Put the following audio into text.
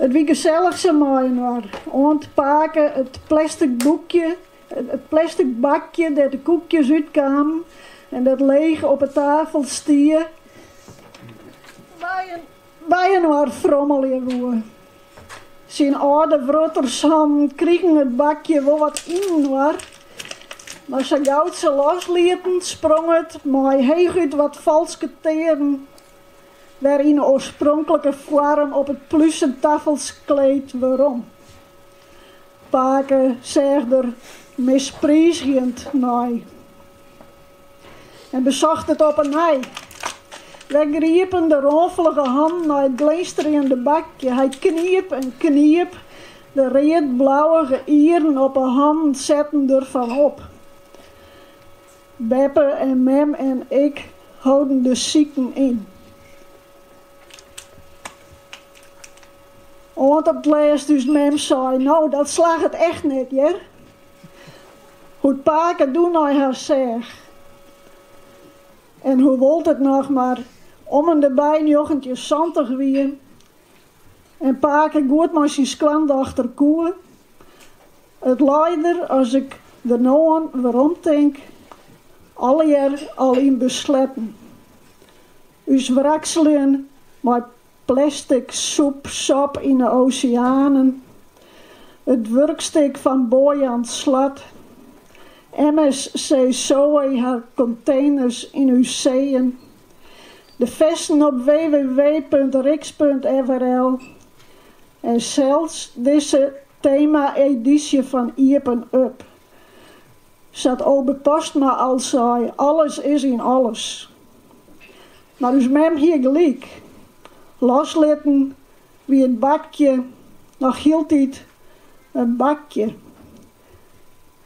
It wie gesellich, sa mei-inoar, oant pake it plestik bakje dêr't de koekjes út kamen en dat leech op 'e tafel stie, byinoar frommelje woe. Syn âlde wrottershannen krigen it bakje wol wat yninoar, mar sa gau't se loslieten, sprong it mei heechút wat falske tearen wer yn 'e oarspronklike foarm op it plusen tafelskleed werom. Pake seach der mispriizgjend nei en besocht it op 'e nij. Wer griepen de rânfelige hannen nei it glinsterjende bakje. Hy kniep en kniep, de read-blauwige ieren op 'e hannen setten derfan op. Beppe en mem en ik holden de siken yn. Oant op 't lêst ús mem sei, no, dat slagget echt net hjir. Hoe't pake doe nei har seach. En hoewol't it noch mar om-ende-by njoggentjinsantich wie en pake goed mei syn skoandochter koe, It lei der, as ik der no oan weromtink, allegear al yn besletten. Us wrakseljen mei plestik soep, sop yn 'e oseanen, it wurkstik fan Boyan Slat, MSC Zoe har konteners yn ús seeën, de festen op www.riks.frl en sels dizze tema-edysje fan Iepen Up. Sa't Obe Postma al sei, alles is yn alles. Mar ús mem hie gelyk. Loslitten wie it bakje noch hieltyd in bakje.